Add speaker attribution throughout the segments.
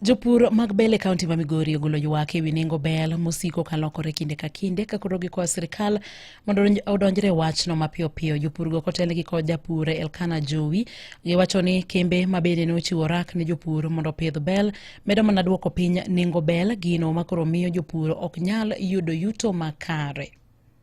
Speaker 1: Jopur mag bel e kaunti ma Migori ogolo ywak e wi nengo bel mosiko ka lokore kinde ka kinde ka koro gikwayo sirkal mondo odonjre e wachno mapiyo piyo. Jopurgo kotel gi kod japur Elkana Jowi giwacho ni kembe ma bende ne ochiwo rak ne jopur mondo opidh bel medo mana duoko piny nengo bel, gino ma koro miyo jopur ok nyal yudo yuto makare.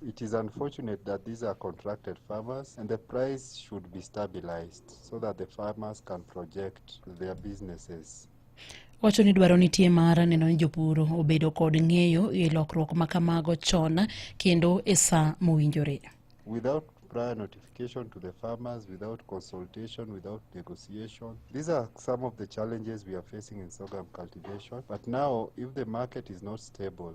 Speaker 2: It is unfortunate that these are contracted farmers and the price should be stabilized so that the farmers can project their businesses. Wacho ni
Speaker 1: dwaro nitie mar neno ni jopur obedo kod ng'eyo e lokruok ma kamago chon kendo e sa mowinjore. Without
Speaker 2: prior notification to the farmers, without consultation, without negotiation. These are some of the challenges we are facing in sorghum cultivation. But now, if the market is not stable,